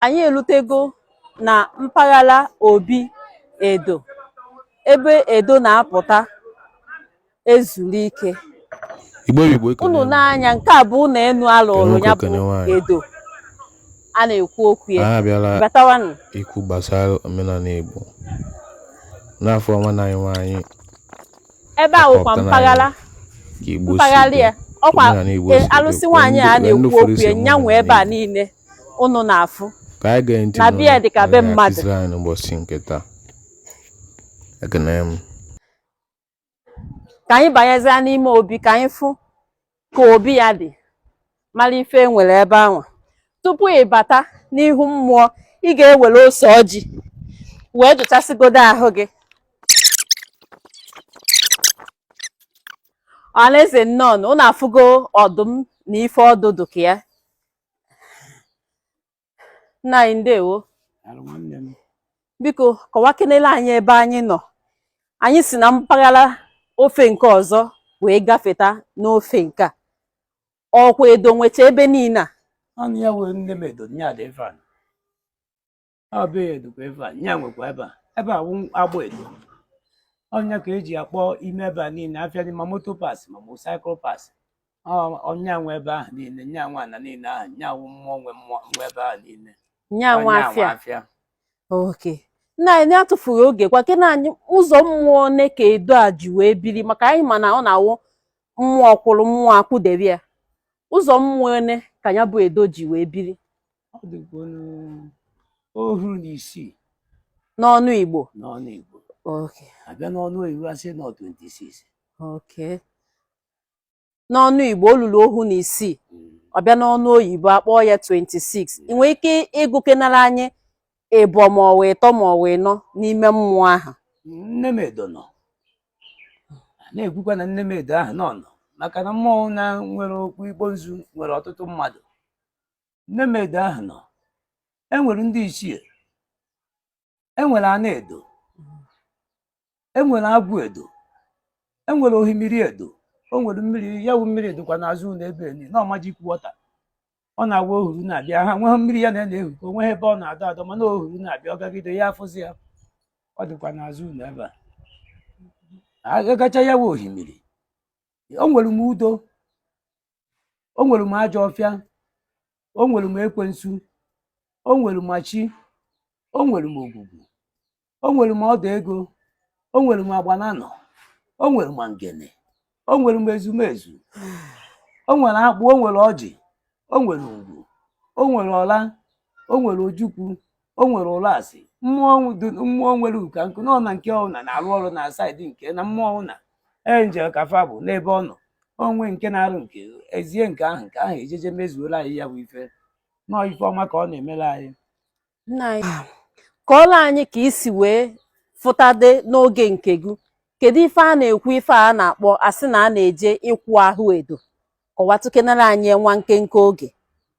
anyị elutego na mpaghara obi edo ebe edo na-apụta ezuru ike unu n'anya nke a bụ ụlọ enu a lụrụ ya bụ edo a na-ekwu okwu ya batawanụ ikwu gbasara omenala igbo n'afọ nwanne anyị nwaanyị ebe a wụkwa mpaghara mpaghara ya ọkwa e, alụsị nwaanyị a na-ekwu okwu ya nya nwe ebe a niile ụnụ na-afụ na be ya dị ka be mmadụ. ka anyị banyezie n'ime obi ka anyị fụ ka obi ya dị mara ife e nwere ebe ahụ tupu ị bata n'ihu mmụọ ị ga-ewere ose ọjị wee jụchasịgodo ahụ gị ọhaneze nnọọ ụnụ afụgo ọdụm na ife ọdụdụ ka ya nna anyị ndewo Alụ nwanne m. biko kọwakenele anyị ebe anyị nọ anyị si na mpaghara ofe nke ọzọ wee gafeta n'ofe nke a ọkwa edo nwecha ebe niile a Ọ nya nwe nne m edo nya dị ebe a. ọ bụ edokwa ebe a nya nwekwa ebe a ebe a wụ agba edo ọ nya ka e ji akpọ ime ebe a niile afịa dị ma motor parts ma motorcycle parts ọ nya nwe ebe ahụ niile nya nwe ana niile ahụ nya wụ mmụọ nwe mmụọ nwe ebe ahụ niile nya nwe afịa okay nna anyị atụfughị oge kọwakene anyị ụzọ mmụọ one ka edo a ji wee biri maka anyị ma na ọ na-awụ mmụọ kwụrụ mmụọ akwụdebe ya ụzọ mmụọ one ka ya bụ edo ji wee biri ọ dịkwa ọnụ ohu na isii n'ọnụ igbo n'ọnụ igbo okay a bịa n'ọnụ oyibo a sị na ọ 26 okay n'ọnụ igbo o luru ohu na isii Mm. ọ bịa n'ọnụ oyibo a kpọọ ya 26 ị nwere ike ịgụkenara anyị ịbọ ma ọ wụ ịtọ ma ọ wụ ịnọ n'ime mmụọ ahụ nne m edo nọ A na-ekwukwa na nne m edo ahụ nọ nọ maka na mmụọ na nwere okwu igbo nzu nwere ọtụtụ mmadụ Nne m edo ahụ nọ e nwere ndị ichie e nwere ana edo e nwere agwụ edo e nwere ohimiri edo o nwere mmiri ya wụ mmiri dịkwa n'azụ ụlọ ebe ni na ọ magic water ọ na-awụ ohuru na-abịa ha nweghị mmiri ya na na-ehu ka o nweghị ebe ọ na-adọ adọ mana ohuru na-abịa ọ gagide ya afụzi ya ọ dịkwa n'azụ ụlọ ebe a agacha ya wụ ohimiri o nwere m udo o nwere m ajọ ọfịa o nwere m ekwensu o nwere m chi o nwere m ogwugwu o nwere m ọdụ ego o nwere m agbananọ o nwere m ngene o nwere m ezumezu o nwere akpụ o nwere ọjị o nwere ngwu o nwere ọla o nwere ojukwu o nwere ụlasị mmụọ mmụọ nwere uka nkụ na ọna nke ọna na-arụ ọrụ na saịdị nke na mmụọ ọwụna enjel ka fa bụ n'ebe ọ nọ o nwee nke na-arụ nke ezie nke ahụ nke ahụ ejeje mezuola anyị ya bụ ife nọọ ife ọma ka ọ na-emere anyị nna anyị kọọlọ anyị ka i si wee fụtade n'oge nke gị kedu ife a na-ekwu ife a na-akpọ a sị na a na-eje ịkwụ ahụ edo kọwatụkenara anyị nwa nkenke oge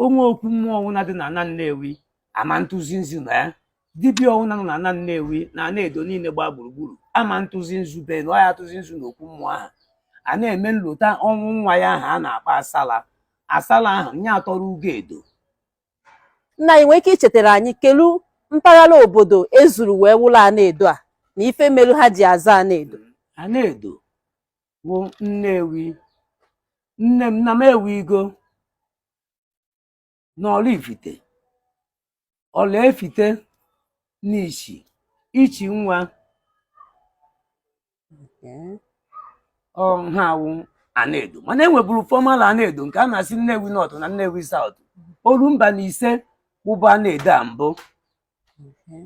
o nwee okwu mmụọ ọwụna dị na ana Nnewi ama ntụzi nzu na ya dibịa ọwụna nọ na ana Nnewi na ana edo niile gbaa gburugburu ama ntụzi nzu be na ọ ya atụzi nzu na okwu mmụọ ahụ a na-eme nlota ọnwụ nwa ya ahụ a na-akpọ asala asala ahụ nye atọrọ ugo edo nna anyị nwee ike ichetara anyị kelu mpaghara obodo ezuru wee wụlọ ana edo a na ife melu ha ji aza ana edo ana edo bụ Nnewi nne m na m ewigo na Ọraifite Ọraifite na Ichi Ichi nwa Okay. ọ ha wụ Anaedo mana e nwebụrụ former Anaedo nke a na-asị Nnewi North na Nnewi South oru mba na ise wụbụ Anaedo a mbụ Okay.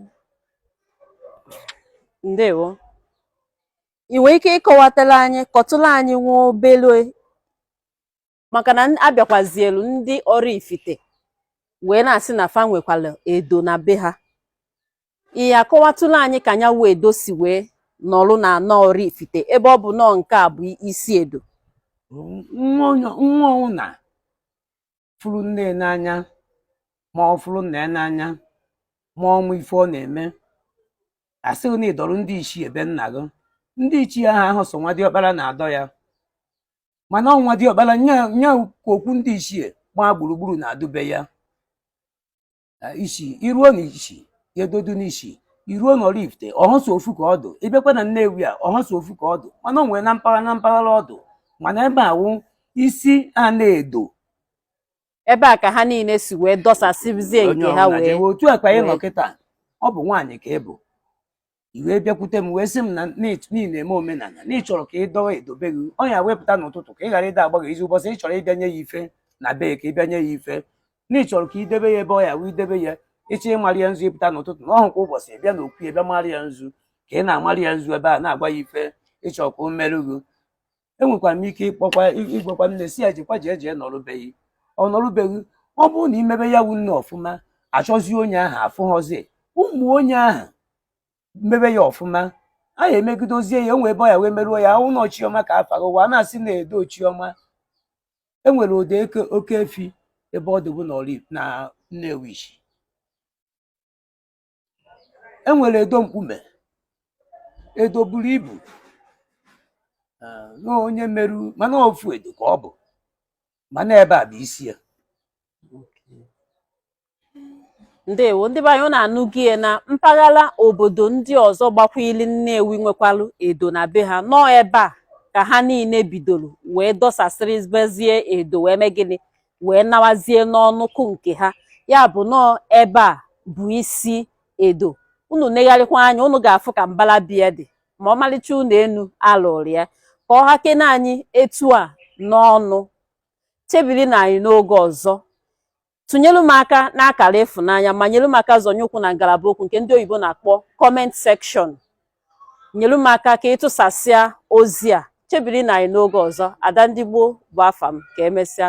Ndewo. ị nwere ike ịkọwatara anyị kọtụrụ anyị nwa obere maka na a bịakwazielu ndị Oraifite wee na-asị na fa nwekwara edo na be ha ị ya-akọwatụla anyị ka nya wụ edo si wee nọrụ na ana Oraifite ebe ọ bụ nọọ nke a bụ isi edo nwa ọwụna fụrụ nne ya n'anya ma ọ fụrụ nna ya n'anya ma ọ ma ife ọ na-eme a sịghị na ị dọrọ ndị ichie be nna gị ndị ichie ahụ ahụ sọ nwa diọkpara na-adọ ya mana ọ nwa diọkpara nya nya ka okwu ndị ichie gbaa gburugburu na-adụ be ya eh, Ichi i ruo na Ichi edo dụ n'Ichi i ruo na Oraifite ọ họ sọ ofu ka ọ dụ ị bịakwa na Nnewi a ọ họ sọ ofu ka ọ dụ mana o nwere na mpaghara na mpaghara ọ dụ mana ebe a wụ isi Anaedo ebe a ka ha niile si wee dọsasịzie onye nke ha ọbụla wee jewe otu a ka anyị nọ wee- kịta ọ bụ nwaanyị ka ị bụ i wee bịakwute m wee sị m na ị na-eme omenala na ị chọrọ ka ị dọwa edo be gị ọ nya wụ ị pụta n'ụtụtụ ka ị ghara ịda agbaghị izu ụbọchị ị chọrọ ịbịanye ya ife na bee ka ị bịanye ya ife na ị chọrọ ka i debe ya ebe ọ ya wụ i debe ya ị chọọ ịmarị ya nzu ị pụta n'ụtụtụ na ọ họ kwa ụbọchị ị bịa n'okwu ya bịa marị ya nzu ka ị na-amarị ya nzu ebe a na-agwa ya ife ị chọrọ ka o meru gị enwekwara m ike ịkpọkwa ịgwakwa nne sị ya jekwa jee jee nọrụ be ghị ọ nọrụ be ghị ọ bụrụ na i mebe ya wu nne ọfụma achọzie onye ahụ afụghọzie ụmụ onye ahụ mebe ya ọfụma anyị emegidozie ya enwe ebe ọ ya wee merụọ ya ụnọ chiọma ka afa ụwa a na-asị na edo chiọma enwere edo eke oke efi ebe ọ dịbụ na Ọraifite- na Nnewichi enwere edo mkpume edo buru ibu eh, na onye meru mana ofu edo ka ọ bụ mana ebe a bụ isi ya ndewo ndị be anyị unu anụgo ya na mpaghara obodo ndị ọzọ gbakwili Nnewi nwekwalu edo na be ha na ọ ebe a ka ha niile bidoro wee dọsasịrịbezie edo wee mee gịnị wee nawazie n'ọnụkụ nke ha ya bụ na ọ ebe a bụ isi edo unu negharịkwa anya unu ga-afụ ka mbala be ya dị ma ọmalịcha ụnọ enu alụrụ ya ka ọ hakene anyị etu a n'ọnụ chebiri nụ anyị n'oge ọzọ tụnyelu m aka n'akara ịfụnanya ma nyelu m aka zọnye ụkwụ na ngalaba okwu nke ndị oyibo na-akpọ kọment sekshọn nyelu m aka ka ị tụsasịa ozi a chebiri nụ anyị n'oge ọzọ ada ndị gboo bụ afa m ka emesịa